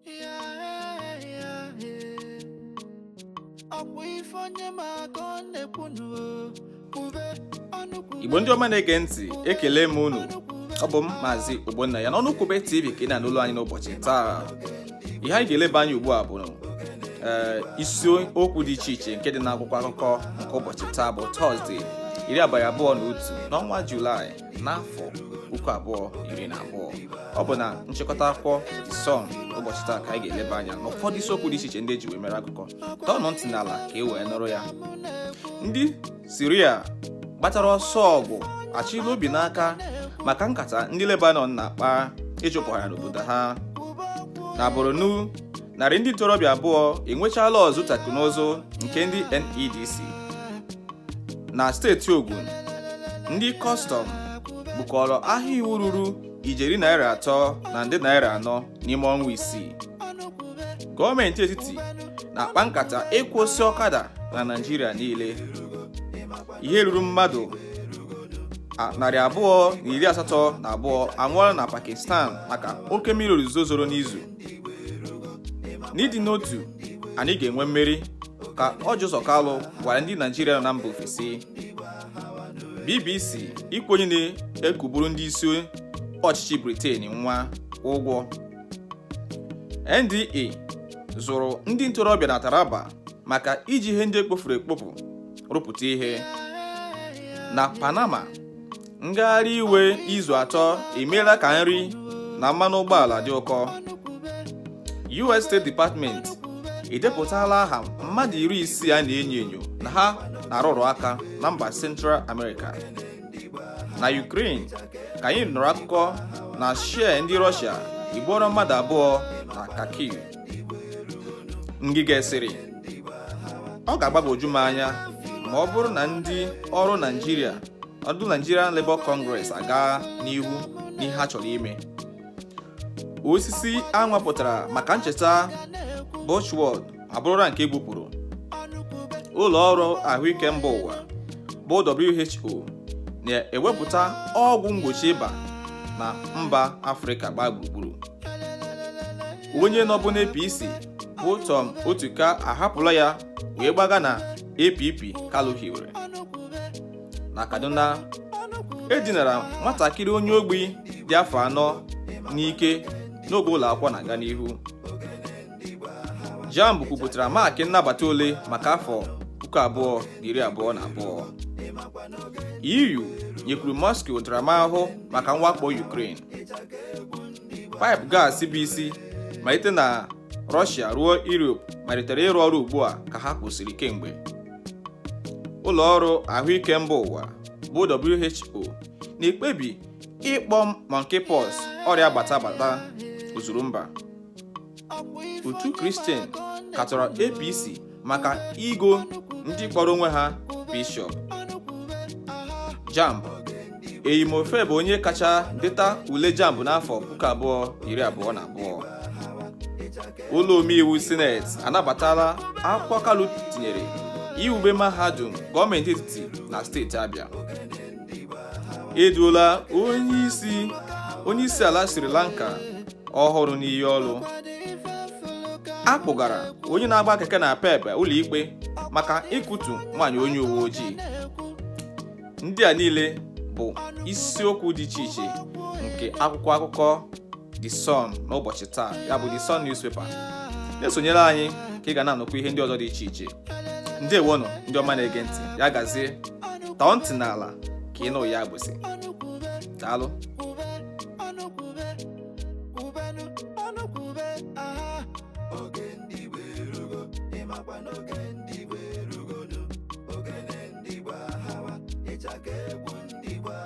Yeah, yeah, yeah. ọkwa ife onye ma ka ọ na-ekwu ọnụ kwube ọnụ kwube igbo ndị ọma na-ege ntị ekele m unu ọ bụ m maazị ogbonnaya n'ọnụ kwube tv ka ị na-anụ olu anyị n'ụbọchị taa ihe anyị ga-eleba anya ugbu a bụ ee isi okwu dị iche iche nke dị n'akwụkwọ akụkọ nke ụbọchị taa bụ tọzdee iri abalị abụọ na otu n'ọnwa julaị n'afọ puku abụọ iri na abụọ ọ bụ na nchịkọta akwụkwọ Sun ụbọchị taa ka anyị ga-eleba anya n'ụfọdụ isiokwu dị iche iche ndị eji wee mere akụkọ tọọnụ ntị n'ala ka e wee nụrụ ya ndị siria gbatara ọsọ ọgụ achịla obi n'aka maka nkata ndị lebanon na-akpa ịchụpụ ha n'obodo ha na borno narị ndị ntorobịa abụọ enwechaala ọzụzụ teknụzụ nke ndị NEDC na steeti Ogun ndị kọstọm bukọrọ ahịa iwu ruru ijeri naira atọ na nde naira anọ n'ime ọnwa isii gọọmenti etiti na-akpa nkata ịkwụsị ọkada na Naịjirịa niile ihe ruru mmadụ narị abụọ na iri asatọ na abụọ anwụọla na Pakistan maka oke mmiri ozuzo zoro n'izu n'ịdị n'otu anyị ga-enwe mmeri ka Orji Uzor Kalu gwara ndị Naijiria nọ na mba ofesi BBC ịkwụ onye na-ekuburu ndị isi ọchịchị Britain nwa ụgwọ NDE zụrụ ndị ntorobịa na Taraba maka iji ihe ndị ekpofuru ekpofu rụpụta ihe na Panama ngagharị iwe izu atọ emeela ka nri na mmanụ ụgbọala dị ụkọ US State Department edepụtala aha mmadụ iri isii a na-enyo enyo na ha na-arụrụ aka na mba Central America na Ukraine ka anyị nụrụ akụkọ na shell ndị Russia egbuola mmadụ abụọ na Kharkiv Ngige sịrị ọ ga-agbagwoju m anya ma ọ bụrụ na ndị ọrụ naijiria ọdụ Nigerian Labour Congress agaa n'ihu n'ihe ha chọrọ ime osisi a nwapụtara maka ncheta Buchenwald abụrụla nke e gbupụrụ ụlọ ọrụ ahụike mba ụwa bụ WHO na-ewepụta ọgwụ mgbochi ịba na mba Afrịka gbaa gburugburu onye nọbu n'APC bụ Tom Otuka ahapụla ya wee gbaga na APP Kalu hiwere na Kaduna e dinara nwatakịrị onye ogbi dị afọ anọ n'ike n'oge ụlọ akwụkwọ na-aga n'ihu jamb kwupụtara maakị nnabata ole maka afọ puku abụọ na iri abụọ na abụọ EU nyekwuru Moscow ntaramahụhụ maka mwakpo Ukraine Paịpụ gas bụ isi malite na Rọshia ruo Europe malitere ịrụ ọrụ ugbu a ka ha kwụsịrị kemgbe. Ụlọ ọrụ ahụike mba ụwa bụ WHO na-ekpebi ịkpọ monkeypox ọrịa gbata gbata ozuru mba. otu kristian katọrọ apc maka igo ndị kpọrọ onwe ha bishọp jamb eyimofe bụ onye kacha deta ule jamb n'afọ puku abụọ iri abụọ na abụọ ụlọ omeiwu sineti anabatala akwụkwọ kalu tinyere iwube mahadum gọọmenti etiti na steeti abịa eduola onye isi ala Sri Lanka ọhụrụ n'iyi ọrụ a kpụgara onye na-agba keke napep ụlọikpe maka ịkụtu nwaanyị onye uwe ojii ndị a niile bụ isiokwu dị iche iche nke akwụkwọ akụkọ The Sun n'ụbọchị taa ya bụ The Sun newspaper na-esonyere anyị ka ị ga na-anụkwa ihe ndị ọzọ dị iche iche ndeewonụ ndị ọma na-ege ntị ya gazie tọọ ntị n'ala ka ị nụ ya agbụsị daalụ